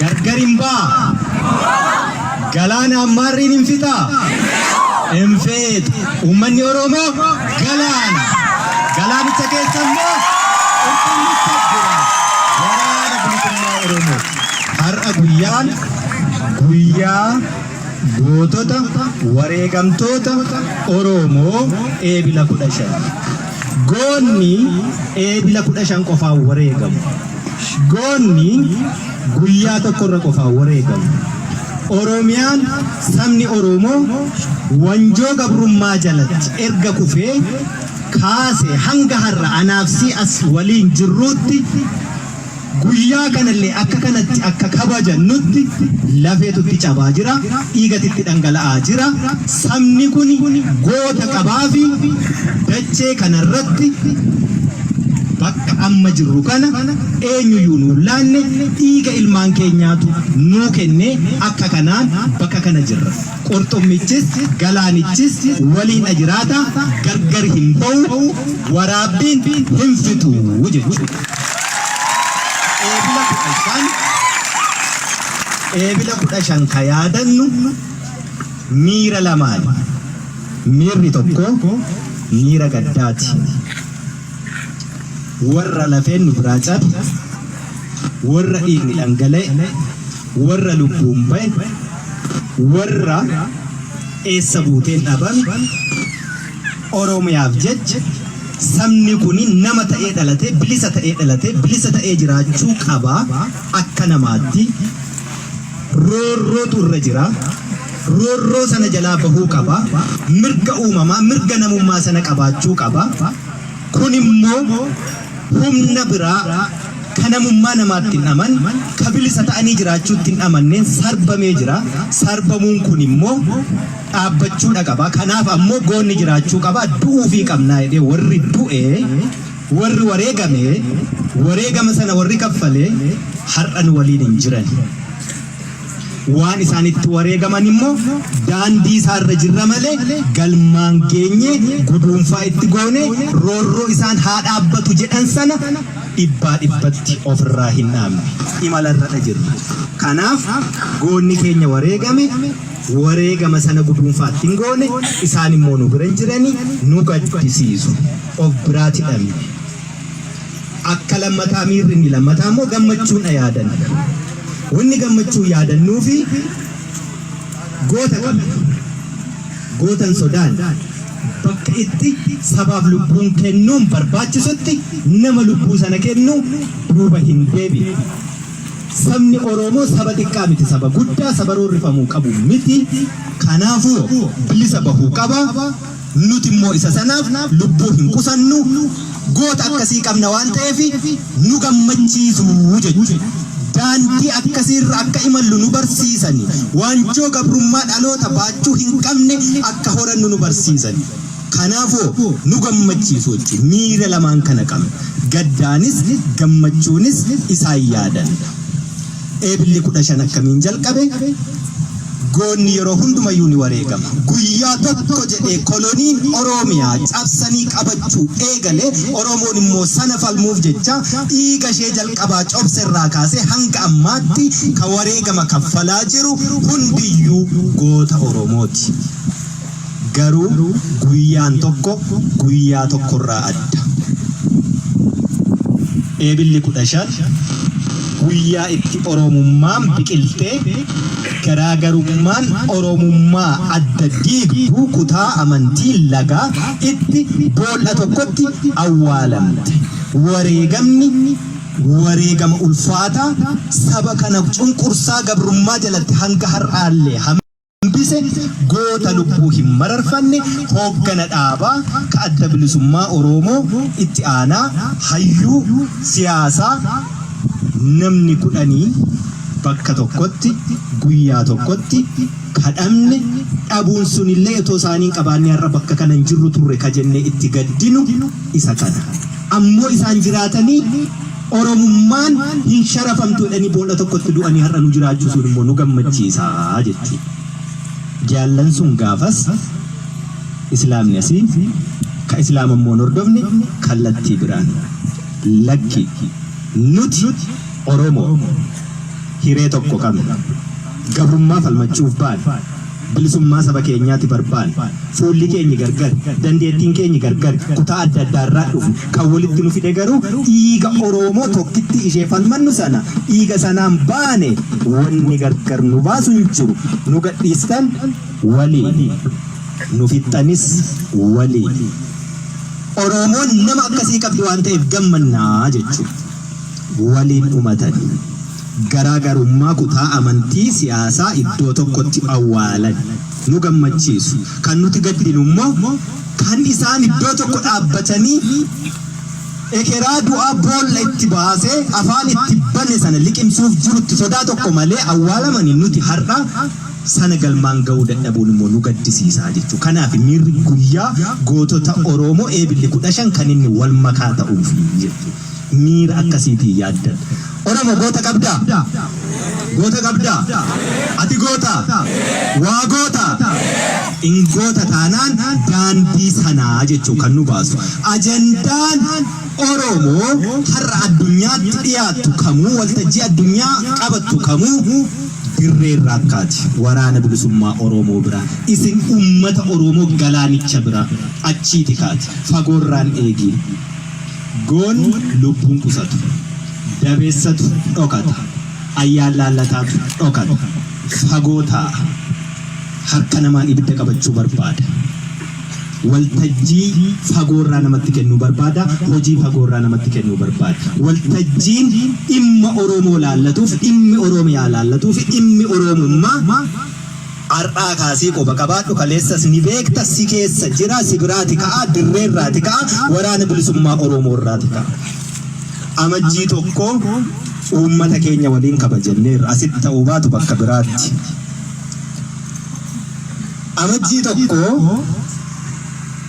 Gargar hin baa? Galaana hammaarriin hin fixaa? Hin feetu. Uummanni Oromoo galaana. Galaanicha keessa immoo qulqullicha jira. Waraana bilisummaa Oromoo. Har'a guyyaan guyyaa Gootota wareegamtoota Oroomoo Eebila 15. Goonni Eebila 15 qofaan wareegamu. Goonni guyyaa tokkorra qofaan wareegamu. Oromiyaan sabni Oroomoo wanjoo gabrummaa jalatti erga kufee kaase hanga har'a anaafsii as waliin jirruutti Guyyaa kanallee akka kanatti akka kabajannutti lafeetu itti cabaa jira, dhiigati itti dhangala'aa jira. Sabni kuni goota qabaafi dachee kanarratti bakka amma jirru kana eenyuyyuu nu hin laanne dhiiga ilmaan keenyaatu nuu kennee akka kanaan bakka kana jirra. Qurxummichis galaanichis waliin'a jiraata, gargar hin ba'u, waraabbiin hin fixu jechuudha. Eebila 15, Eebila 15 ka yaadannu miira lamaani. Miirri tokko miira gaddaati. warra lafeen nu biraa cabe, warra dhiigni dhangala'e, warra lubbuun ba'e, warra eessa buuteen dhabame, Oromiyaaf jecha sabni kun nama ta'ee dhalatee bilisa ta'ee dhalatee bilisa ta'ee jiraachuu qaba akka namaatti roorrootu irra jira. Roorroo sana jalaa bahuu qaba. Mirga uumamaa, mirga namummaa sana qabaachuu qaba. Kun immoo humna biraa ka namummaa namaatti hin aman, ka bilisa ta'anii jiraachuutti hin amanneen sarbamee jira. Sarbamuun kun immoo dhaabbachuudha qaba. Kanaaf ammoo goonni jiraachuu qaba. Du'uufii qabnaa jedhee warri du'e, warri wareegame, wareegama sana warri kaffale har'a nu waliin hin jiran. waan isaan itti wareegaman immoo daandii isaa irra jirra malee galmaan geenye guduunfaa itti goone roorroo isaan haa dhaabbatu jedhan sana dhibbaa dhibbatti ofirraa hin dhaabne imala irra jirra. Kanaaf goonni keenya wareegame wareegama sana guduunfaa itti hin goone isaan immoo nu bira hin jirani nu gaddisiisu of biraati dhabne. Akka lammataa miirri inni lammataa immoo gammachuudha yaadan. Wanni gammachuu yaadannuufi goota qabna. Gootan sodaan bakka itti sabaaf lubbuun kennuun barbaachisutti nama lubbuu sana kennu duuba hin deebi'u. Sabni Oromoo saba xiqqaa miti saba guddaa saba roorrifamuu qabu miti. Kanaafuu bilisa bahuu qaba. Nuti immoo isa sanaaf lubbuu hin qusannu, goota akkasii qabna waan ta'eef nu gammachiisu jechu. Daandii akkasii irra akka imallu nu barsiisani. Waanjoo gabrummaa dhaloota baachuu hin qabne akka horannu nu barsiisani. Kanaafoo nu gammachiisu jechu. Miira lamaan kana qabna. Gaddaanis gammachuunis isaan yaadanna. Eebilli 15 akkamiin jalqabe? Goonni yeroo hundumayyuu ni wareegama. Guyyaa tokko jedhee koloniin Oromiyaa cabsanii qabachuu eegale Oromoon immoo sana falmuuf jecha dhiiga ishee jalqabaa cobse irraa kaasee hanga ammaatti ka wareegama kaffalaa jiru hundiyyuu goota Oromooti. Garuu guyyaan tokko guyyaa tokkorraa adda. Eebilli 15 guyyaa itti Oromummaan biqiltee garaagarummaan Oromummaa adda diigduu kutaa amantii lagaa itti bool'a tokkotti awwaalamte. Wareegamni wareegama ulfaataa saba kana cunqursaa gabrummaa jalatti hanga har'aallee hambise goota lubbuu hin mararfanne hooggana dhaabaa ka adda bilisummaa Oroomoo itti aanaa hayyuu siyaasaa namni kudhanii bakka tokkotti guyyaa tokkotti kadhamne dhabuun sunillee otoo isaanii hin qabaanne har'a bakka kana hin jirru turre ka jennee itti gaddinu isa kana. Ammoo isaan jiraatanii Oromummaan hin sharafamtu jedhanii boolla tokkotti du'anii har'a nu jiraachuusuun immoo nu gammachiisa jechuudha. Jaallan sun gaafas Islaamni asii ka Islaama immoo hin hordofne kallattii biraan lakki nuti Oromoo hiree tokko qabna gabrummaa falmachuuf baane Bilisummaa saba keenyaati barbaanne. Fuulli keenyi gargari. Dandeettiin keenyi gargari. Kutaa adda addaa irraa dhufne. Kan walitti nu fide garuu dhiiga Oroomoo tokkittii ishee falmannu sana. Dhiiga sanaan baane. Wanni gargar nu baasu hin jiru. Nu gadhiistan waliin. Nu fixxanis waliin. Oroomoon nama akkasii qabdi waan ta'eef gammanna jechuun waliin dhumatani. Garaa garummaa kutaa amantii, siyaasaa iddoo tokkotti awwaalan. Nu gammachiisu. Kan nuti gaddinu immoo kan isaan iddoo tokko dhaabbatanii ekeraa du'aa boolla itti baasee afaan itti bane sana liqimsuuf jirutti sodaa tokko malee awwaalamani nuti har'a sana galmaan ga'uu dadhabuun immoo nu gaddisiisaa jechuu. Kanaaf miirri guyyaa gootota Oroomoo Eebilli 15 kan inni wal makaa ta'uufi jechuu. Miira akkasiitiin yaaddan. Oromo goota qabdaa? Goota qabdaa? Ati goota? Waa goota? In goota taanaan daandii sanaa jechuun kan nu baasu. Ajandaan Oromoo har'a addunyaatti dhiyaattu kamuu waltajjii addunyaa qabattu kamuu dirree irraa akkaati. Waraana bilisummaa Oromoo bira. Isin ummata Oromoo galaanicha bira. Achiiti kaati. Fagoorraan eegiin. Goon lubbuun qusatu. Dabeessatu dhokata. Ayyaan laallataatu dhokata. Fagoo taa'a. Harka namaan ibidda qabachuu barbaada. Waltajjii fagoorraa namatti kennuu barbaada. Hojii fagoorraa namatti kennuu barbaada. Waltajjiin dhimma Oromoo laallatuuf, dhimmi Oromiyaa laallatuuf, dhimmi Oromummaa Ar'aa kaasii qoba qabaadhu kaleessas ni beekta si keessa jira si biraati ka'a dirree irraati ka'a waraana bilisummaa Oromoo irraati ka'a. Amajjii tokko uummata keenya waliin kabajanneerra asitti ta'uu baatu bakka biraatti. Amajjii tokko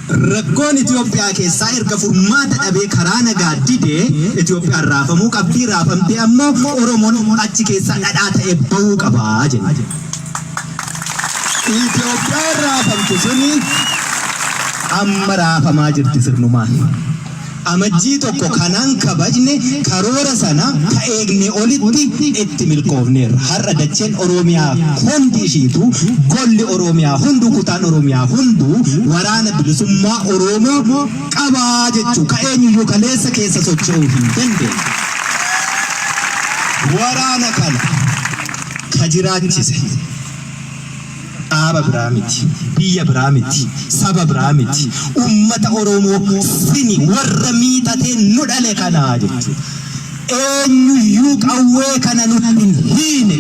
Rakkoon Itiyoophiyaa keessaa erga furmaata dhabee karaa nagaa dide Itiyoophiyaan raafamuu qabdi, raafamtee ammoo Oromoon achi keessaa dhadhaa ta'ee ba'uu qaba jenna. Itiyoophiyaan raafamte suni amma raafamaa jirti sirnumaan. Amajjii 1 kanaan kabajne karoora sana ka eegne olitti itti milkoofneerra. Har'a dacheen Oroomiyaa hundi ishiituu, golli Oroomiyaa hunduu, kutaan Oroomiyaa hunduu Waraana Bilisummaa Oroomoo qaba jechuu ka eenyuyyuu kaleessa keessa socho'uu hin dandeenye. Waraana kana ka jiraachise. Dhaaba biraa miti, biyya biraa miti, saba biraa miti, ummata Oromoo sini warra miixatee nu dhale kana jechuudha. Eenyuyyuu qawwee kana nutti hin hiine,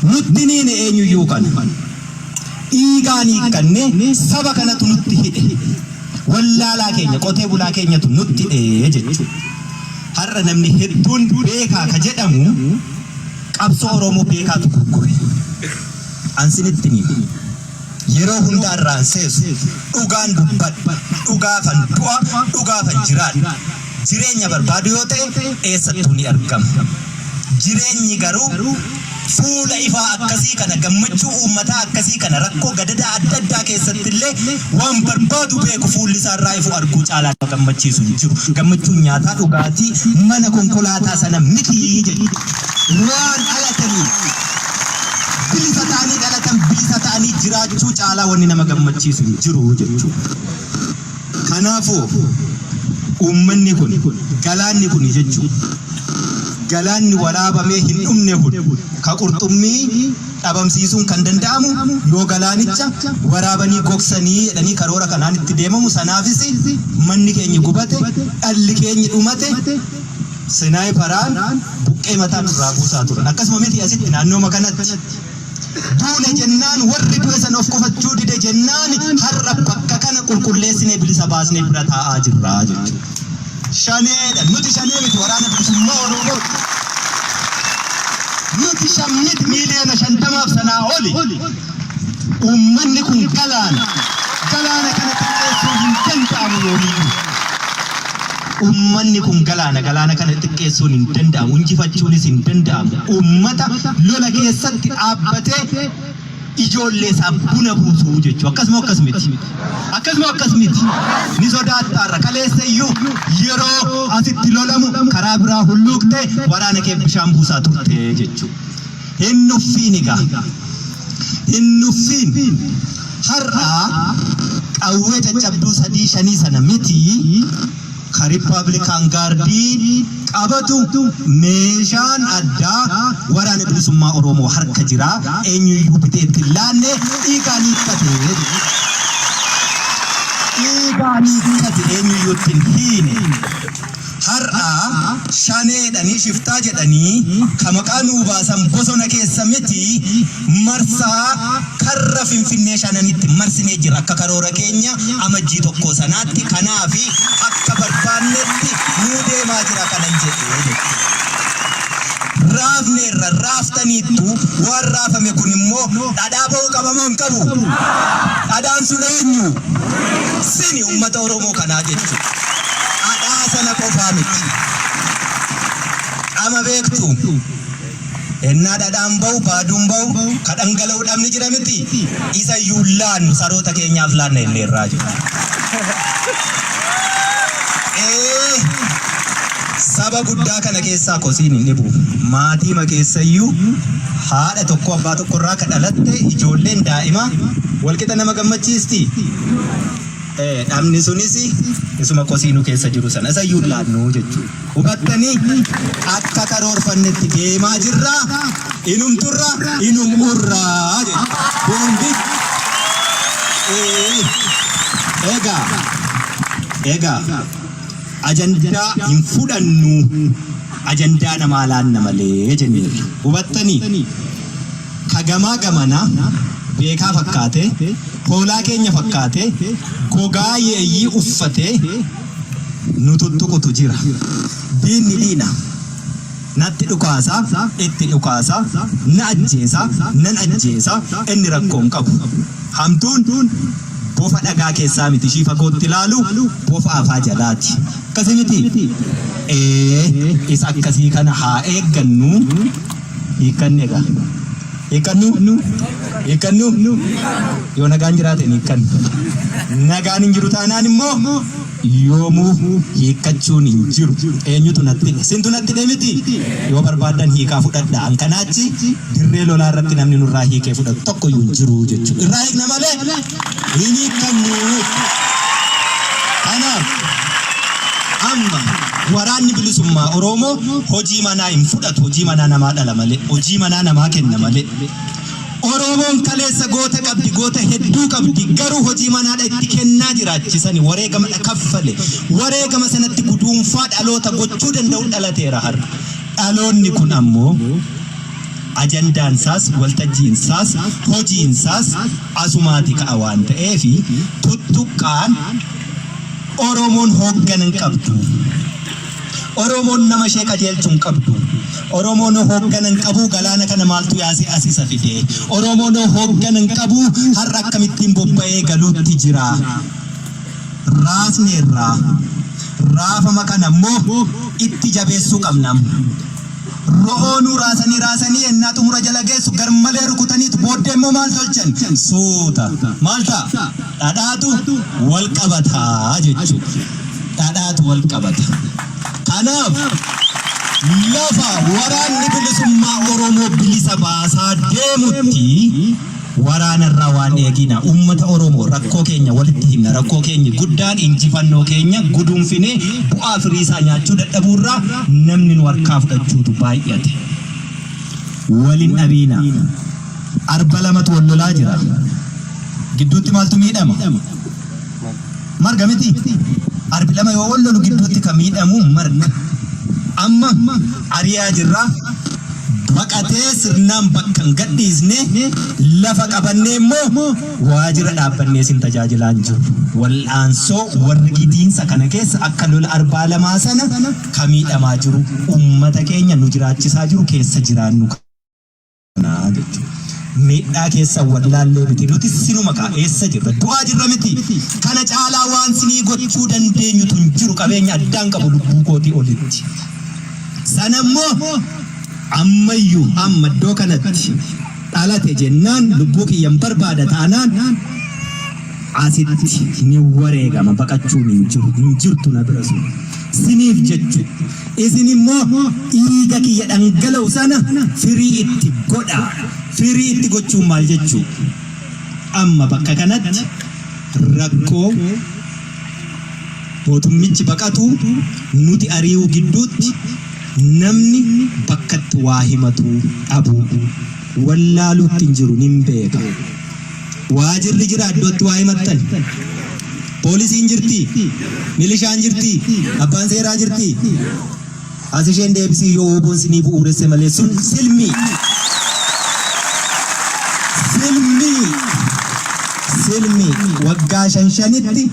nutti hin hiine eenyuyyuu kana. Dhiigaan hiikkannee saba kanatu nutti hidhe. Wallaalaa keenya, qotee bulaa keenyatu nutti hidhe jechuudha. Har'a namni hedduun beekaa ka jedhamu qabsoo Oromoo beekaatu gurgure. An sinitti hima. Yeroo hundaa irraan seesu. Dhugaan dubbadha. Dhugaafan du'a, dhugaafan jiraadha. Jireenya barbaadu yoo ta'e eessattuu ni argama. Jireenyi garuu fuula ifaa akkasii kana, gammachuu uummataa akkasii kana, rakkoo gadadaa adda addaa keessatti illee waan barbaadu beeku fuulli isaa irraa ifu arguu caalaa nama gammachiisu hin jiru. Gammachuun nyaataa dhugaatii mana konkolaataa sana miti jedhu. Waan dhalataniif. Bilisa ta'anii dhalatan bilisa ta'anii jiraachuu caalaa wanni nama gammachiisu hin jiru jechuudha. Kanaafuu uummanni kun galaanni kun jechuudha. Galaanni waraabamee hin dhumne kun ka qurxummii dhabamsiisuun kan danda'amu yoo galaanicha waraabanii gogsanii jedhanii karoora kanaan itti deemamu sanaafis manni keenya gubate dhalli keenya dhumate Senaayiparaan buqqee mataa nurraa buusaa turan. Akkasuma miti asitti naannooma kanatti. Duune jennaan warri du'e san of qufachuu dide jennaan har'a bakka kana qulqulleessinee bilisa baasnee bira taa'aa jirra jechuudha. Shaneedha. Nuti shanee miti waraana bilisummaa Oromoo. Nuti shan miti miiliyoona shantamaaf sanaa oli. Uummanni kun galaana. Galaana kana xiqqeessuun hin danda'amu yoomiyyuu. Uummanni kun galaana, galaana kana xiqqeessuun hin danda'amu, injifachuunis hin danda'amu. Uummata lola keessatti dhaabbatee ijoollee isaaf buna buusuu jechuu akkasuma akkas miti. Akkasuma akkas miti. Ni sodaattaarra kaleessa iyyuu yeroo asitti lolamu karaa biraa hulluuqtee waraana kee bishaan buusaa turte jechuu. Hin nuffiin egaa hin nuffiin har'a qawwee caccabduu sadii shanii sana miti ka Rippaablikaan Gaardiin qabatu meeshaan addaa waraana bilisummaa Oromoo harka jira eenyuyyuu bitee itti hin laanne dhiigaan hiikkate dhiigaan hiikkate eenyuyyuu itti hin hiine. Har'a shaneedhanii shiftaa jedhanii ka maqaa nuu baasan bosona keessa miti marsaa karra Finfinnee shananitti marsinee jirra akka karoora keenya Amajjii tokkoo sanaatti kanaafi akka barbaannetti nuu deemaa jira kanan jedhe jechuudha. Raafneerra raaftaniittu waan raafame kun immoo dhadhaa ba'uu qaba moo hin qabu? Dhadhaan sun eenyu? Sini uummata Oromoo kanaa jechuudha. Adhaa sana qofaa miti. Qama beektu. Ennaa dhadhaan ba'u baaduun ba'u ka dhangala'u dhabni jira miti. Isa iyyuu laannu saroota keenyaaf laanna inni irraa jira. Ee saba guddaa kana keessaa kosiin hin dhibu. Maatii ma keessayyuu haadha tokko abbaa tokko irraa ka dhalatte ijoolleen daa'ima walqixa nama gammachiisti. Eh, dhabni sunis isuma kosii nu keessa jiru sana isa iyyuu hin laannu jechuudha. Hubattanii akka karoorfannetti deemaa jirra, inum turra, inum urra jechuudha. Hundi Eh, egaa egaa ajandaa hin fudhannu ajandaa namaa laanna malee jenneerra. Hubattanii? ka gamaa gamanaa beekaa fakkaatee, hoolaa keenya fakkaatee, gogaa yeeyyii uffatee nu tuttuqutu jira. Diinni diina. Natti dhukaasa, itti dhukaasa, na ajjeesa, nan ajjeesa, inni rakkoo hin qabu. Hamtuun bofa dhagaa keessaa miti ishii fagootti ilaalu bofa afaa jalaati. Akkasii miti? Ee, isa akkasii kana haa eeggannu. hiikkanne egaa. Hiikkannuu? Hiikkannuu? Yoo nagaan jiraate hin hiikkannu. Nagaan hin jiru taanaan immoo yoomuu hiikkachuun hin jiru. Eenyutu natti hidhe? Sintu natti hidhe miti? Yoo barbaaddan hiikaa fudhadha. An kanaa achi dirree lolaa irratti namni nurraa hiikee fudhatu tokko iyyuu hin jiru jechuudha. Irraa hiikna malee hin hiikkamnu. Kanaaf amma waraanni bilisummaa Oromoo hojii manaa hin fudhatu. Hojii manaa namaa dhala malee, hojii manaa namaa kenna malee. Oromoon kaleessa goota qabdi, goota hedduu qabdi. Garuu hojii manaadha itti kennaa jiraachisani wareegamadha kaffale. Wareegama sanatti guduunfaa dhaloota gochuu danda'u dhalateera har'a. Dhaloonni kun ammoo Ajandaan isaas, waltajjiin isaas, hojiin isaas asumaati ka'a waan ta'eef tuttuqqaan Oromoon hooggana hin qabdu. Oromoon nama ishee qajeelchu hin qabdu. Oromoon hooggana hin qabu galaana kana maaltu yaase as isa fide. Oromoon hooggana hin qabu har'a akkamittiin bobba'ee galuutti jira. Raasneerraa raafama kana immoo itti jabeessuu qabna. Ro'oonuu raasanii raasanii yennaa xumura jala geessu garmalee rukutaniit booddee immoo maal tolchan? Suuta maal ta'a? Dhadhaatu wal qabata jechuudha. Dhadhaatu wal qabata. Kanaaf lafa waraanni bilisummaa Oromoo bilisa baasaa deemutti Waraana irraa waan eegiina. Uummata Oromoo rakkoo keenya walitti himna. Rakkoo keenyi guddaan injifannoo keenya guduunfinee bu'aa firii isaa nyaachuu dadhabuu irraa namni nu harkaa fudhachuutu baay'ate. Wal hin dhabiina. Arba lamatu wal lolaa jira. Gidduutti maaltu miidhama? Marga miti. Arbi lama yoo wal lolu gidduutti kan miidhamu marga. Amma ari'aa jirra. Baqatee sirnaan bakka hin gadhiisne lafa qabannee immoo waajjira dhaabbannee sin tajaajilaa hin jiru. Wal'aansoo warri gidiinsa kana keessa akka lola arbaa lamaa sana kan miidhamaa jiru uummata keenya nu jiraachisaa jiru keessa jiraannu. kanaa jechuudha. Miidhaa keessan wallaallee miti nuti sinuma kaa eessa jirra du'aa jirra miti kana caalaa waan sinii gochuu dandeenyutu hin jiru qabeenya addaan qabu lubbuu kootii olitti. Sana immoo ammayyuu amma iddoo kanatti dhalate jennaan lubbuu kiyyan barbaada taanaan Asitti ni wareegama baqachuun hin jiru hin jirtu nabi rasuul siniif jechu isin immoo dhiiga kiyya dhangala'u sana firii itti godha firii itti gochuun maal jechuu amma bakka kanatti rakkoo mootummichi baqatu nuti ari'uu gidduutti namni bakkatti waa himatu dhabuu wallaaluutti hin jiru nin beeka. Waajirri jira iddootti waa himattan. Poolisiin jirti, milishaan jirti, abbaan seeraa jirti. As isheen deebisii yoo ooboon sinii bu'uuresse malee sun silmii. Silmii. Silmii waggaa shan shanitti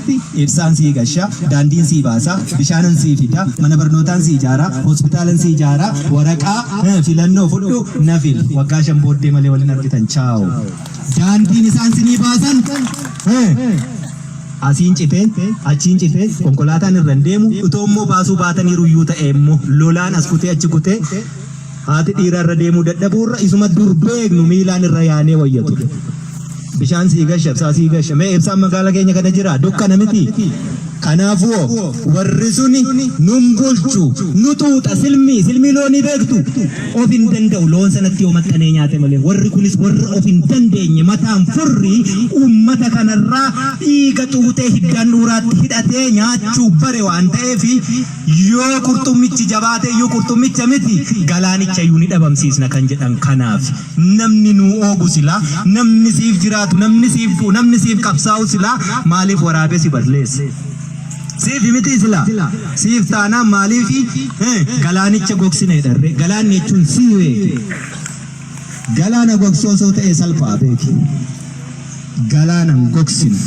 ibsaan sii gasha, daandiin sii baasa, bishaanan sii fida, mana barnootaan sii ijaara, hospitaalan sii ijaara, waraqaa eh, filannoo fudhu na fili. Waggaa shan booddee malee waliin argitan. Chaaw. Daandiin isaan sinii baasan asiin citee achiin citee konkolaataan irra hin deemu utoo immoo baasuu baataniiru iyyuu ta'e immoo lolaan as kutee achi kutee haati dhiira irra deemuu dadhabuu irra isuma dur beeknu miilaan irra yaanee wayya ture. Bishaan sii gasha, ibsaa sii gasha. Mee ibsaan magaala keenya kana jira? Dukkana miti. Kanaafuo, warri suni, Nun bulchu, nu xuuxa, silmii, silmii loonii beektu? Of hin danda'u, loon sanatti yoo maxxanee nyaate malee. Warri kunis warra of hin dandeenye, mataan furri ummata kanarraa dhiiga xuuxee hiddaan dhuuraatti hidhatee nyaachuu bare waan ta'eef, yoo qurxummichi jabaateyyuu qurxummicha miti, galaanichayyuu ni dhabamsiisna kan jedhan kanaafi. Namni nuu oobu silaa, namni siif jiraatu, namni siif du'u, namni siif qabsaa'u silaa maaliif waraabee si balleessa? Siifi mitii silaa? Siif taanaan maaliifi galaanicha gogsina jedharree? Galaanni jechuun sii beeki. Galaana gogsuu osoo ta'ee salphaa beeki. galaana hin gogsinu.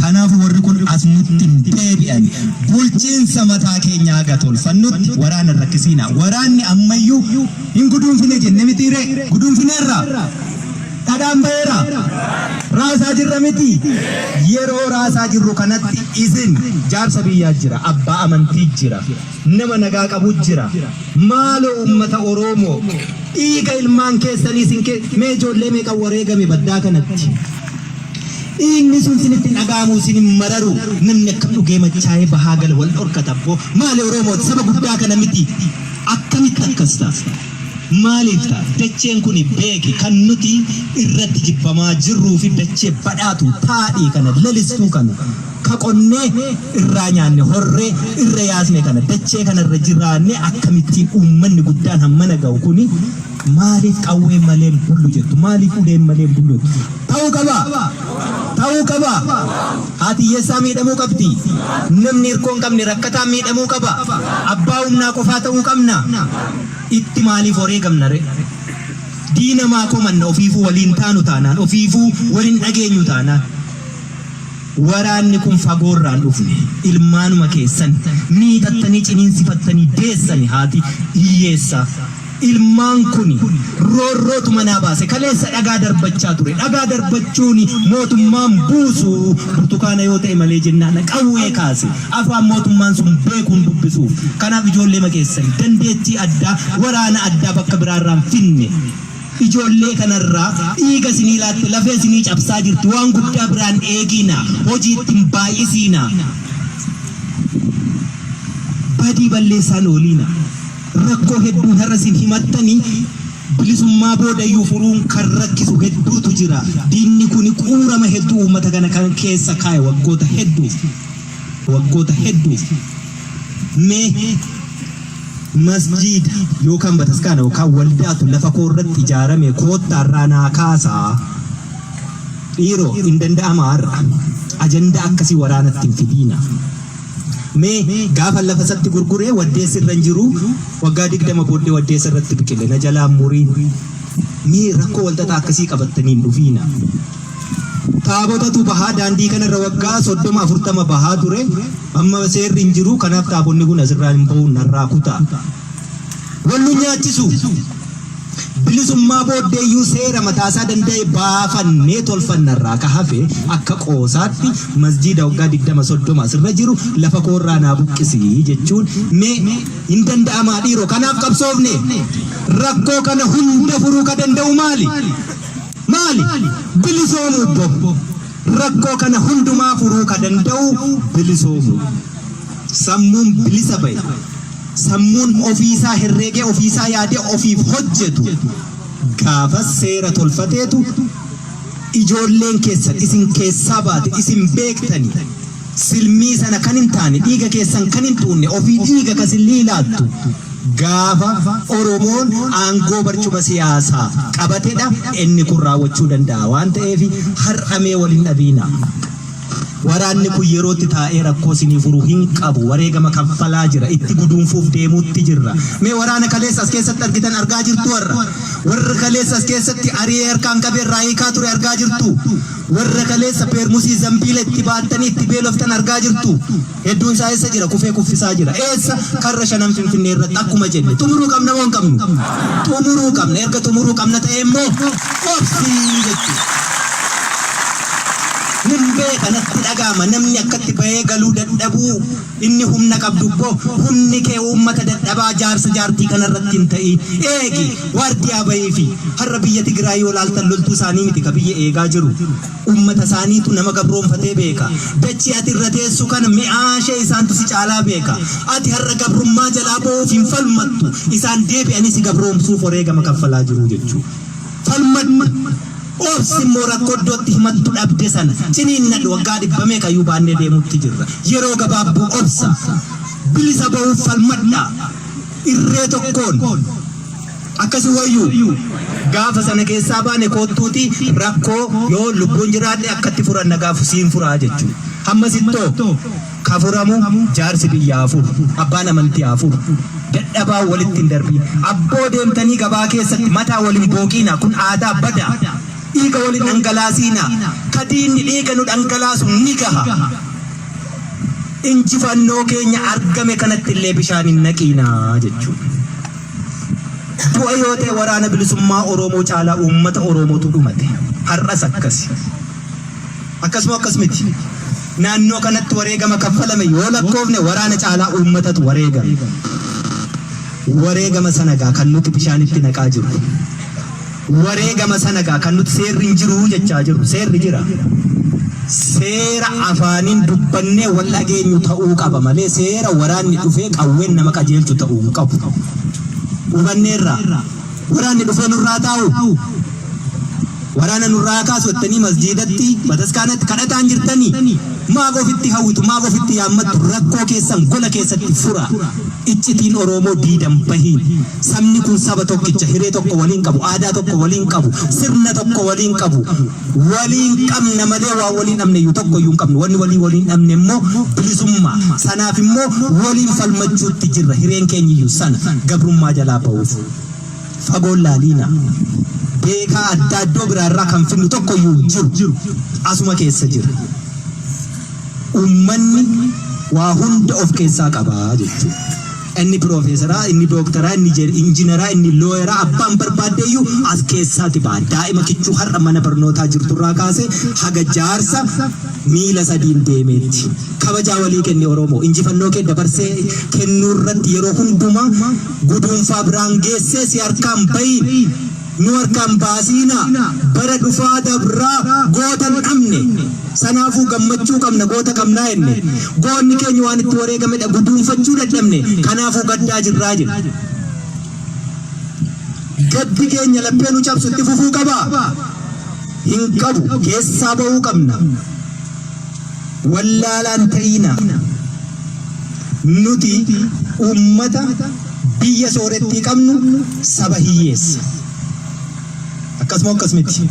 Kanaaf warri kun as nutti hin deebi'an. Bulchiinsa mataa keenyaa haga tolfannutti waraana hin rakkisiina. Waraanni ammayyuu hin guduunfine jenne mitii ree? Guduunfineerra? Dhadhaan ba'eera? Raasaa jirra miti? Yeroo raasaa jirru kanatti isin jaarsa biyyaa jira, abbaa amantii jira, nama nagaa qabu jira. Maaloo uummata Oromoo Dhiiga ilmaan keessanii sin kee mee ijoollee meeqan wareegame baddaa kanatti. Dhiigni sun sinitti hin dhaga'amu sin hin mararu namni akkam dhugee machaa'ee bahaa gala wal dhorkata abboo maali Oromooti saba guddaa kana miti akkamitti akkas ta'a. Maaliif ta'a dacheen kun beeki kan nuti irratti jibbamaa jirruu fi dachee badhaatu taadhii kana lalistuu kana Ka qonnee irraa nyaanne, horree irra yaasne kana, dachee kana irra jiraannee akkamittiin uummanni guddaan hammana gahu kuni maaliif qawween malee hin bullu jettu? Maaliif uleen malee hin bullu jettu? Ta'uu qabaa? Ta'uu qabaa? Haati hiyyeessaa miidhamuu qabdii? Namni hirkoo hin qabne rakkataan miidhamuu qaba? Abbaa humnaa qofaa ta'uu qabna? Itti maaliif wareegamna ree? Diina maa komanna ofiifuu waliin taanu taanaan, ofiifuu wal hin dhageenyu taanaan? Waraanni kun fagoo irraa hin dhufne. Ilmaanuma keessan miitattanii ciniinsifattanii deessani haati hiyyeessaa. Ilmaan kuni roorrootu manaa baase. Kaleessa dhagaa darbachaa ture. Dhagaa darbachuun mootummaan buusu burtukaana yoo ta'e malee jennaan qawwee kaase. Afaan mootummaan sun beekuun dubbisuuf. Kanaaf ijoolleema keessan dandeettii addaa waraana addaa bakka biraarraan finne. Ijoollee kana irraa dhiiga isinii laatte lafee isinii cabsaa jirti waan guddaa biraa hin eegiina hojii itti hin baay'isiina badii balleessaa hin ooliina rakkoo hedduun har'a isin himattanii bilisummaa boodayyuu furuun kan rakkisu hedduutu jira diinni kuni quurama hedduu uummata kana kan keessa kaa'e waggoota hedduuf waggoota hedduuf Mee masjiida yookaan bataskaana yookaan waldaatu lafa koo irratti ijaarame koottaa irraa naa kaasaa. Dhiiroo hin danda'amaa har'a. Ajandaa akkasii waraanatti hin fidiina. Mee gaafa lafa isatti gurguree waddeessi irra hin jiru waggaa digdama booddee waddeessa irratti biqile na jalaa murii. Mee rakkoo walxaxaa akkasii qabattanii hin dhufiina. Taabotatu bahaa daandii kana irra waggaa 30, 40 bahaa ture. Amma seerri hin jiru. Kanaaf taabonni kun asirraa hin bahu narraa kutaa. Wal nu nyaachisu. Bilisummaa booddee iyyuu seera mataasaa danda'e baafannee tolfannarraa ka hafe akka qoosaatti masjiida waggaa 20, 30 asirra jiru lafa koorraa naa buqqisi jechuun mee hin danda'amaa dhiiroo kanaaf qabsoofne rakkoo kana hunda furuu ka danda'u maali? Maali? Bilisoomuu bbo. Rakkoo kana hundumaa furuu ka danda'u bilisoomuu. Sammuun bilisa ba'e, sammuun ofii isaa herreegee ofii isaa yaadee ofiif hojjetu gaafas seera tolfateetu ijoolleen keessan isin keessaa baate isin beektani silmii sana kan hin taane dhiiga keessan kan hin tuunne ofii dhiiga ka silmii laattu gaafa Oromoon aangoo barcuma siyaasaa qabatedha inni kun raawwachuu danda'a waan ta'eef har'amee wal hin dhabiina. Waraanni kun yerootti taa'ee rakkoo sinii furu hin qabu wareegama kaffalaa jira itti guduunfuuf deemuutti jirra. Mee waraana kaleessa as keessatti argitan argaa jirtu warra warra kaleessa as keessatti ari'ee harkaan qabee irraa hiikaa ture argaa jirtu. Warra kaleessa peermusii zambiila itti baattanii itti beeloftan argaa jirtu. Hedduun isaa eessa jira? Kufee kuffisaa jira. Eessa? Karra shanan Finfinnee irratti akkuma jenne. Xumuruu qabna moo hin qabnu? Xumuruu qabna. Erga xumuruu qabna ta'e immoo obsii jechuudha. Nin beeka natti dhaga'ama namni akkatti bahee galuu dadhabuu Inni humna qabdu immoo humni kee uummata dadhabaa jaarsa jaartii kana irratti hin ta'iin. Eegi! Waardiyaa bahiifi. Har'a biyya Tigraay yoo ilaaltan loltuu isaanii miti ka biyya eegaa jiru. Uummata isaaniitu nama gabroomfatee beeka. Dachii ati irra teessu kana mi'aa ishee isaantu si caalaa beeka. Ati har'a gabrummaa jalaa bahuuf hin falmattu. Isaan deebi'anii si gabroomsuuf wareegama kaffalaa jiru jechuudha. Falmadhu! Obsi immoo rakkoo iddootti himattu dhabde sana ciniinnadhu. Waggaa dhibba meeqa iyyuu baannee deemuutti jirra. Yeroo gabaabduu obsa. Bilisa bahuuf falmadhaa. Irree tokkoon. Akkas hin wayyuu? Gaafa sana keessaa baane koottuutii rakkoo yoon lubbuun jiraadhe akkatti furan na gaafu siin furaa jechuudha. Hammasittoo? Ka furamu jaarsi biyya haa furu, abbaan amantii haa furu. Dadhabaa walitti hin darbiin. Abboo deemtanii gabaa keessatti mataa wal hin booqiinaa kun aadaa badaa. Dhiiga wal hin dhangalaasiinaa. Ka diinni dhiiga nu dhangalaasu ni gaha. Injifannoo keenya argame kanatti illee bishaan hin naqiinaa jechuudha. Du'a yoo ta'e waraana bilisummaa Oromoo caalaa uummata Oromootu dhumate. Har'as akkasi. Akkas moo akkas miti? Naannoo kanatti wareegama kaffalame yoo lakkoofne waraana caalaa uummatatu wareegame. Wareegama sana egaa kan nuti bishaanitti naqaa jirru. Wareegama sana egaa kan nuti seerri hin jiru jechaa jirru. Seerri jira. Seera afaaniin dubbannee wal dhageenyu ta'uu qaba malee seera waraanni dhufee qawween nama qajeelchu ta'uu hin qabu. Hubanneerraa? Waraanni dhufee nurraa taa'u, waraana nurraa haa kaasu jettanii masjiidatti, bataskaanatti kadhataan jirtanii maaf ofitti hawwitu, maaf ofitti yaammattu? Rakkoo keessan gola keessatti fura. Iccitiin Oroomoo diidan bahi. Sabni kun saba tokkicha, hiree tokko waliin qabu, aadaa tokko waliin qabu, sirna tokko waliin qabu. Waliin qabna malee waan waliin dhabneyyu tokkoyyuu hin qabnu. Wanni waliin waliin dhabne immoo bilisummaa. Sanaaf immoo waliin falmachuutti jirra. Hireen keenyiyyu sana. Gabrummaa jalaa bahuuf. Fagoo hin laaliina. Beekaa addaa iddoo biraa irraa kan fidnu tokkoyyuu hin jiru. Asuma keessa jira. Ummanni waa hunda of keessaa qaba jechuudha. Inni piroofeesaraa, inni dooktaraa, inni jer- injiinaraa, inni looyeraa abbaan barbaaddeeyyuu as keessaati ba'a. Daa'ima kichuu har'a mana barnootaa jirturraa kaasee haga jaarsa miila sadiin deemeetti. Kabajaa walii kenni Oromoo. Injifannoo kee dabarsee kennuurratti yeroo hundumaa guduunfaa biraan geessee si harkaan bahi. Nu harkaa hin baasiinaa, bara dhufaa dabraa goota hin dhabne. Sanaafuu gammachuu qabna, goota qabnaa jenne. Goonni keenya waan itti wareegamedha, guduunfachuu dadhabne. Kanaafuu gaddaa jirraa jedhe. Gaddi keenya laphee nu cabsu itti fufuu qabaa? Hin qabu, keessaa ba'uu qabna. wallaalaa hin ta'iinaa. Nuti uummata biyya soorettii qabnu saba hiyyeessa. Akkasuma akkas miti.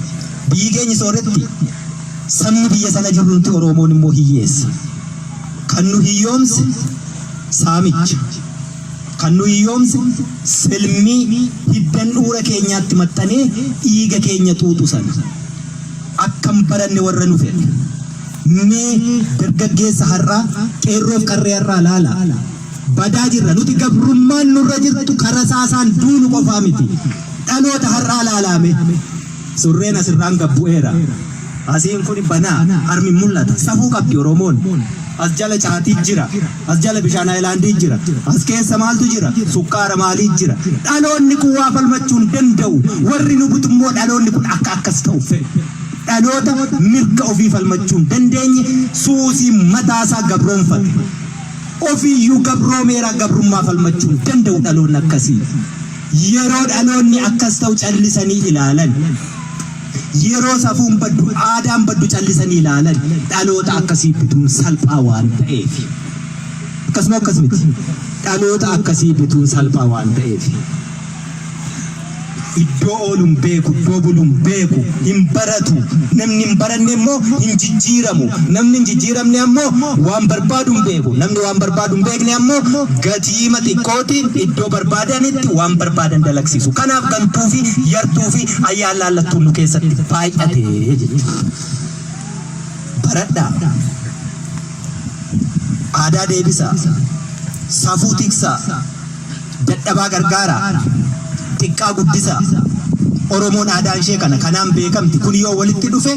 Biyyi keenya sooretti sabni biyya sana jirru nuti Oromoon immoo hiyyeessa. Kan nu hiyyoomse saamicha. Kan nu hiyyoomse silmii hiddan dhuura keenyaatti maxxanee dhiiga keenya xuuxu sana. Akka hin baranne warra nu fedhe. Mee dargaggeessa har'aa, qeerroof qarree har'aa laalaa. Badaa jirra. Nuti gabrummaan nurra jirtu ka rasaasaan duunu qofaa miti. Dhaloota har'aa laalaa mee. Surreen asirraan gad bu'eera. Asiin kuni banaa, harmi hin mul'ata. Safuu qabdi Oromoon. As jala caatii jira. As jala bishaan ayilaandii jira. As keessa maaltu jira? Sukkaara maalii jira? Dhaloonni kun waa falmachuu hin danda'u. Warri nu butu immoo dhaloonni kun akka akkas ta'u fedhu. Dhaloota mirga ofii falmachuu hin dandeenye suusii mataasaa gabroomfate. Ofiiyyuu gabroomeera gabrummaa falmachuu hin danda'u dhaloonni akkasii. Yeroo dhaloonni akkas ta'u callisanii ilaalan, yeroo safuun baddu, aadaan baddu callisanii ilaalan dhaloota akkasii bituun salphaa waan ta'eef. Akkasuma akkas miti. Dhaloota akkasii bituun salphaa waan ta'eef. Iddoo oolu hin beeku, iddoo bulu hin beeku, hin baratu. Namni hin baranne immoo hin jijjiiramu. Namni hin jijjiiramne ammoo waan barbaadu hin beeku. Namni waan barbaadu hin beekne ammoo gati. diima xiqqootiin iddoo barbaadanitti waan barbaadan dalagsiisu. Kanaaf gantuufi yartuufi ayyaanlaallattuun nu keessatti baay'ate jechuudha. Baradhaa! Aadaa deebisaa! Safuu tiksaa! Dadhabaa gargaaraa! Xiqqaa guddisaa! Oromoon aadaan ishee kana kanaan beekamti. Kun yoo walitti dhufe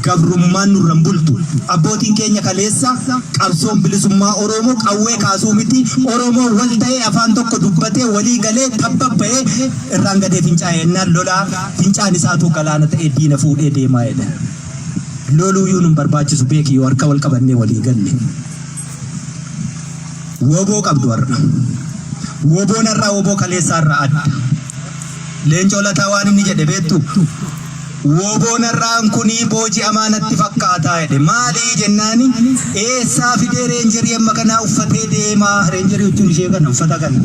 gabrummaan nurra hin bultu. Abbootiin keenya kaleessa qabsoon bilisummaa Oromoo qawwee kaasuu miti Oromoo wal ta'ee afaan tokko dubbatee walii galee tabbabba'ee irraan gadee fincaa'e ennaan lolaa fincaan isaatuu galaana ta'ee diina fuudhee deemaa jedha. Loluu yuu nun barbaachisu beeki yoo harka wal qabannee walii galle. Woboo qabdu har'a. Woboon har'aa woboo kaleessaa irraa adda. Leencoo lataa waan inni jedhe beektu Wbo narraan kunii booji'amaa natti fakkaataa jedhe. Maalii jennaani eessaa fidee reenjerii amma kanaa uffatee deemaa reenjerii huccuun ishee kana uffata kana.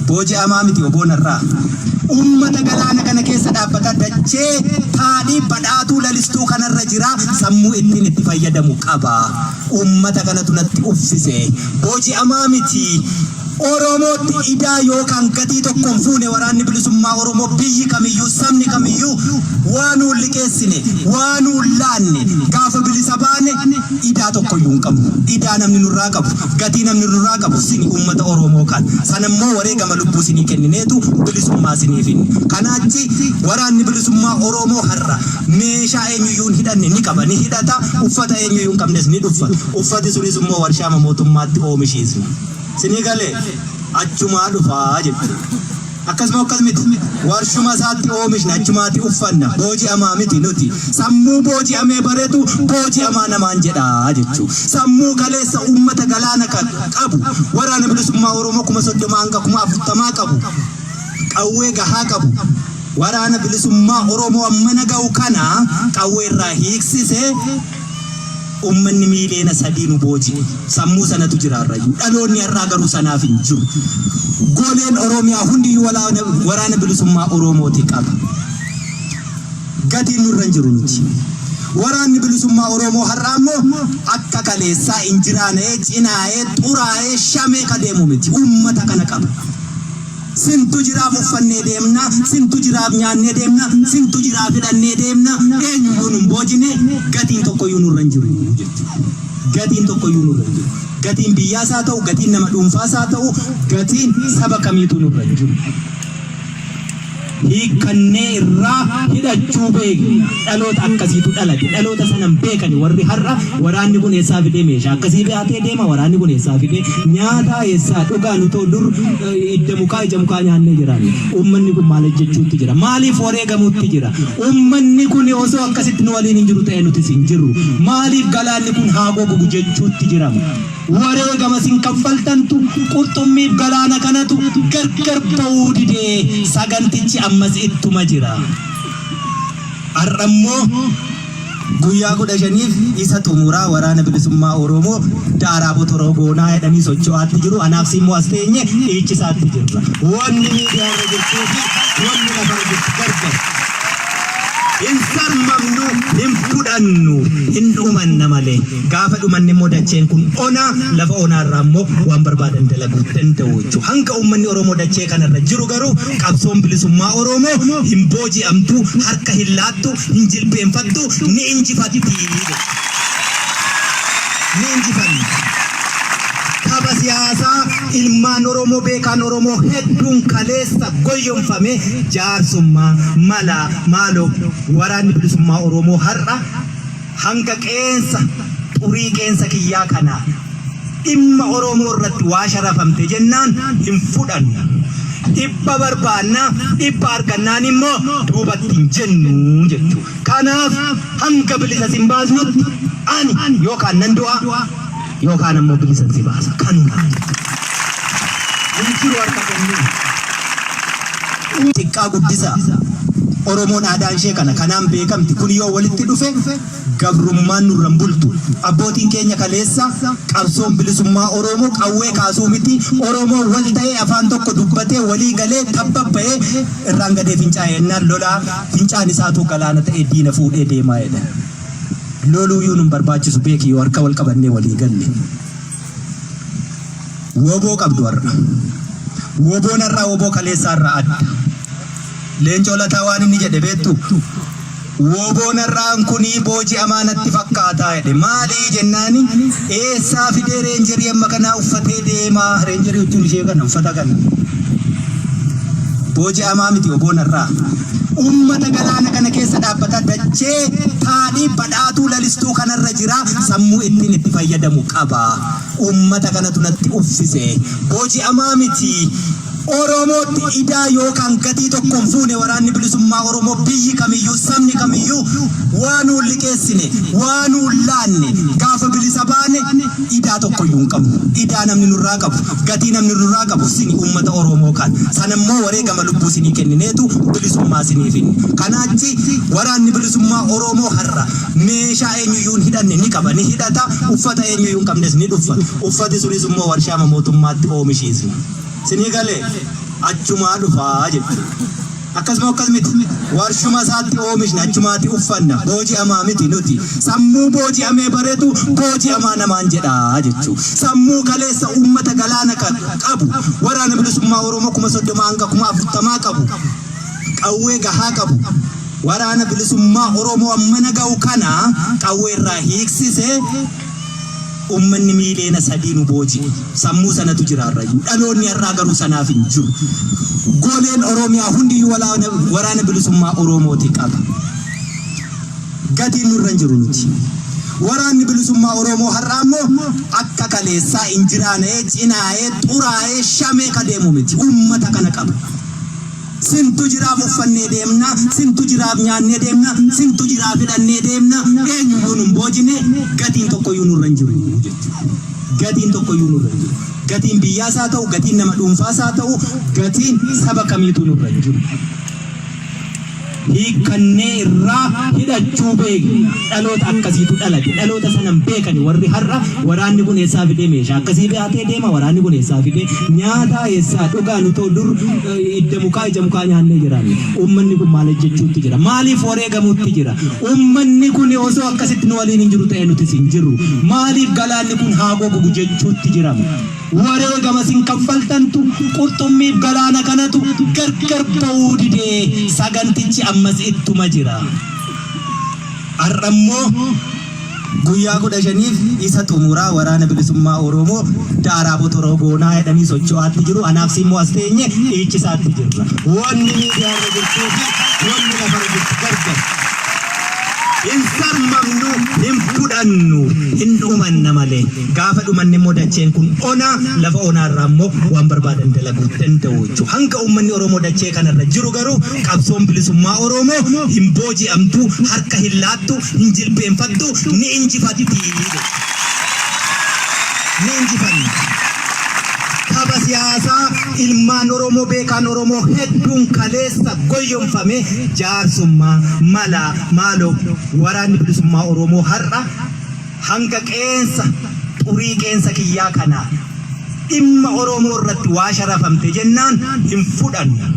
Booji'amaa miti wbo narraa. Uummata galaana kana keessa dhaabbata dachee taadhii badhaatuu lalistuu kanarra jira sammuu ittiin itti fayyadamu qaba. Uummata kanatu natti uffise. Booji'amaa miti. Oromootti idaa yookaan gatii tokko hin fuune waraanni bilisummaa Oromoo biyyi kamiyyuu sabni kamiyyuu waa nuun liqeessine waa nuun laanne gaafa bilisa baane idaa tokkoyyuu hin qabnu idaa namni nurraa qabu gatii namni nurraa qabu sini uummata Oromoo kan sana immoo wareegama lubbuu sinii kennineetu bilisummaa sinii finne kanaachi waraanni bilisummaa Oromoo har'a meeshaa eenyuyyuu hin hidhanne ni qaba ni hidhata uffata eenyuyyuu hin qabnes ni dhuffata uffati sunis immoo warshaama mootummaatti oomishiisna. Sinii gale achumaa dhufaa jechuudha. Akkasuma akkas miti warshuma isaatti oomishna achumaatti uffanna booji'amaa miti nuti sammuu booji'amee baretu booji'amaa namaan jedhaa jechuu sammuu kaleessa uummata galaana kan qabu waraana bilisummaa Oromoo kuma soddoma hanga kuma afurtamaa qabu qawwee gahaa qabu waraana bilisummaa Oromoo ammana ga'u kana qawwee irraa hiiksisee Uummanni miiliyoona sadii nu booji'e. Sammuu sanatu jira har'ayyuu. Dhaloonni har'aa garuu sanaaf hin jiru. Goleen Oromiyaa hundiyyuu walaana waraana bilisummaa Oromooti qaba. Gatiin nurra hin jiru nuti. Waraanni bilisummaa Oromoo har'aa immoo akka kaleessaa injiraana'ee, cinaa'ee, xuraa'ee, shamee ka deemu miti. Uummata kana qaba. Sintu jiraaf uffannee deemna, sintu jiraaf nyaannee deemna, sintu jiraaf hidhannee deemna, eenyuyyuu nun boojine, gatiin tokkoyyuu nurra hin jiru jetti. Gatiin tokkoyyuu nurra hin jiru. Gatiin biyyaas haa ta'u, gatiin nama dhuunfaas haa ta'u, gatiin saba kamiituu nurra hin jiru. Hiikkannee irraa hidhachuu beekna. Dhaloota akkasiitu dhalate. Dhaloota sana hin beekani warri har'a waraanni kun eessaa fidee meeshaa akkasii baatee deema waraanni kun eessaa fidee nyaataa eessaa dhugaa nutoo dur idda mukaa ija mukaa nyaannee jiraanne. Uummanni kun maal hojjechuutti jira? Maaliif wareegamuutti jira? Uummanni kun osoo akkasitti nu waliin hin jiru ta'e nutis hin jirru. Maaliif galaanni kun haa gogu jechuutti jirama? Wareegama isin kaffaltantu qurxummiif galaana kanatu gargar ba'uu didee sagantichi ammas ittuma jira. Har'a immoo guyyaa kudha shaniif isa xumuraa waraana bilisummaa Oromoo daaraa botoroo goonaa jedhanii socho'aatti jiru. Anaaf si immoo as teenye dhiichisaatti jirra. Wanni miidiyaa irra jirtuu fi wanni lafa irra jirtu gargar. Hin sarmamnu, hin fudhannu, hin dhumanna malee. Gaafa dhumanne immoo dacheen kun ona, lafa onaa irraa immoo waan barbaadan dalaguu danda'u jechuudha. Hanga uummanni Oromoo dachee kanarra jiru garuu Qabsoon Bilisummaa Oroomoo hin booji'amtu, harka hin laattu, hin jilbeenfattu, ni injifatti jedhe. Ni injifanna. Tapha siyaasaa ilmaan Oromoo beekaan Oromoo hedduun kaleessa goyyomfame jaarsummaa, malaa, maaloo waraanni bilisummaa Oromoo har'a Hanga qeensa xurii qeensa kiyyaa kanaa dhimma Oromoo irratti waa sharafamte jennaan hin fudhannu. Dhibba barbaanna, dhibba argannaan immoo duubatti hin jennu jechuu dha. Kanaaf hanga bilisa sin baasnutti ani yookaan nan du'a, Yookaan ammoo bilisan si baasa. Kanumaa jechuudha. Hin jiru harka kennuu. Xiqqaa guddisaa. Oromoon aadaan ishee kana kanaan beekamti kun yoo walitti dhufe gabrummaan nurra hin bultu abbootiin keenya kaleessa qabsoon bilisummaa Oromoo qawwee kaasuu miti Oromoo wal ta'ee afaan tokko dubbatee walii galee tabba ba'ee irraan gadee fincaa'ee ennaan lolaa fincaan isaatuu galaana ta'ee diina fuudhee deemaa jedhan. Loluuyuu nun barbaachisu beeki yoo harka wal qabannee walii galle. Woboo qabdu har'a. Woboon har'aa woboo kaleessaa irraa adda. Leencoo lataa waan inni jedhe beektu woboon har'aan kunii booji'amaa natti fakkaataa jedhe maalii jennaani eessaa fidee reenjerii amma kanaa uffatee deemaa reenjerii jechuun ishee kana uffata kana booji'amaa miti woboon har'aa. Uummata galaana kana keessa dhaabbata dachee taanii badhaatuu lalistuu kanarra jira sammuu ittin itti fayyadamu qaba. Uummata kanatu natti uffise. Booji'amaa miti. Oromootti idaa yookaan gatii tokko hin fuune waraanni bilisummaa Oromoo biyyi kamiyyuu sabni kamiyyuu waa nuun liqeessine waa nuun laanne gaafa bilisa baane idaa tokkoyyuu hin qabnu. Idaa namni nurraa qabu Gatii namni nurraa qabu sini uummata Oroomoo kan. Sana immoo wareegama lubbuu sinii kennineetu bilisummaa sinii finne. Kanaa achi waraanni bilisummaa Oroomoo har'a meeshaa eenyuyyuu hin hidhanne ni qaba, ni hidhata, uffata eenyuyyuu hin qabnes ni dhuffa. Uffati sunis immoo warshaama mootummaatti oomishiisna. Sinii galee? Achumaa dhufaa jechuudha. Akkas moo akkas miti? Warshuma isaatti oomishna achumaati uffanna. Booji'amaa miti nuti. Sammuu booji'amee baretu booji'amaa namaan jedha jechuu. Sammuu kaleessa uummata galaana kan qabu waraana bilisummaa Oromoo kuma soddoma hanga kuma afurtamaa qabu qawwee gahaa qabu waraana bilisummaa Oromoo ammana ga'u kana qawwee irraa hiiksise Ummanni miiliyoona sadii nu booji'e. Sammuu sanatu jira har'ayyuu. Dhaloonni har'aa garuu sanaaf hin jiru. Goleen Oromiyaa hundiyyuu walaana- waraana bilisummaa Oromooti qaba. Gatiin nurra hin jiru nuti. Waraanni bilisummaa Oromoo har'aa immoo akka kaleessaa injiraana'ee, cinaa'ee, xuraa'ee, shamee ka deemu miti. Ummata kana qaba. Sintu jiraaf uffannee deemna, sintu jiraaf nyaannee deemna, sintu jiraaf hidhannee deemna, eenyuyyuu nun boojine, gatiin tokkoyyuu nurra hin jiru jechuudha. Gatiin tokkoyyuu nurra hin jiru. Gatiin biyyaas haa ta'u, gatiin nama dhuunfaas haa ta'u, gatiin saba kamiituu nurra hin jiru. Hiikkannee irraa hidhachuu beekna. Dhaloota akkasiitu dhalate. Dhaloota sana hin beekani warri har'a waraanni kun eessaa fidee meeshaa akkasii baatee deema, waraanni kun eessaa fidee nyaataa eessaa dhugaa nutoo dur Hidda mukaa, ija mukaa nyaannee jiraanne. Uummanni kun maal hojjechuutti jira? Maaliif wareegamuutti jira? Uummanni kun osoo akkasitti nu waliin hin jiru ta'e nutis hin jirru. Maaliif galaanni kun haa gogu jechuutti jirama? Wareegama isin kaffaltantu qurxummiif galaana kanatu gargar ba'uu didee sagantichi ammas ittuma jira. Har'ammoo Guyyaa 15f isa xumuraa waraana bilisummaa Oromoo daaraa botoroo goonaa jedhanii socho'aatti jiru. Anaaf siimmoo as teenye dhiichisaatti jirra. Wanni miidiyaa irra jirtuu fi wanni lafa irra jirtu gargar. Hin sarmamnu, hin fudhannu, hin dhumanna malee. Gaafa dhumanne immoo dacheen kun ona, lafa onaa irraa immoo waan barbaadan dalaguu danda'u jechuudha. Hanga uummanni Oromoo dachee kanarra jiru garuu qabsoon bilisummaa Oromoo hin booji'amtu, harka hin laattu, hin jilbeenfattu ni injifatti jedhe. Ni injifanna. Tapha siyaasaa ilmaan Oromoo beekaan Oromoo hedduun kaleessa goyyomfame jaarsummaa, malaa, maaloo waraanni bilisummaa Oromoo har'a hanga qeensa xurii qeensa kiyyaa kanaa Dhimma Oromoo irratti waa sharafamte jennaan hin fudhannu.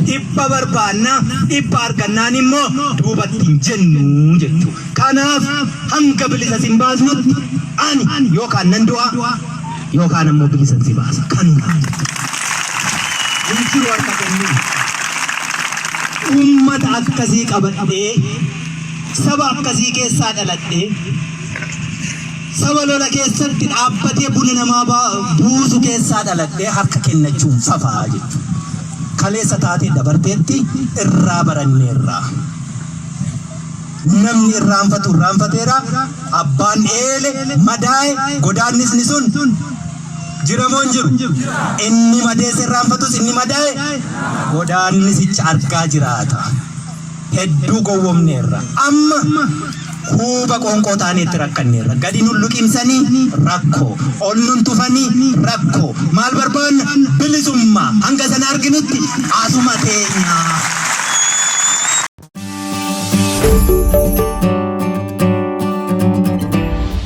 Dhibba barbaanna, dhibba argannaan immoo duubatti hin jennu jechuu. Kanaaf hanga bilisa sin baasnutti ani yookaan nan du'a yookaan ammoo bilisan si baasa. Kanumaa jechuu. Hin jiru harka kennuu. Uummata akkasii qabadhee saba akkasii keessaa dhaladhee Saba lola keessatti dhaabbatee buna namaa buusu keessaa dhaladhee harka kennachuun fafaa jechuudha. Kaleessa taatee dabarteetti irraa baranneerra. Namni irraanfatu irraanfateera. Abbaan eele madaa'e godaannisni sun jiramoo hin jiru. Inni madeesse irraanfatus inni madaa'e godaannisicha argaa jiraata. Hedduu gowwomneerra. Amma huuba qoonqoo taanee itti rakkanneerra. Gadi nun luqimsanii rakkoo. Ol nun tufanii rakkoo. Maal barbaanna? Bilisummaa. Hanga sana arginutti asuma teenya.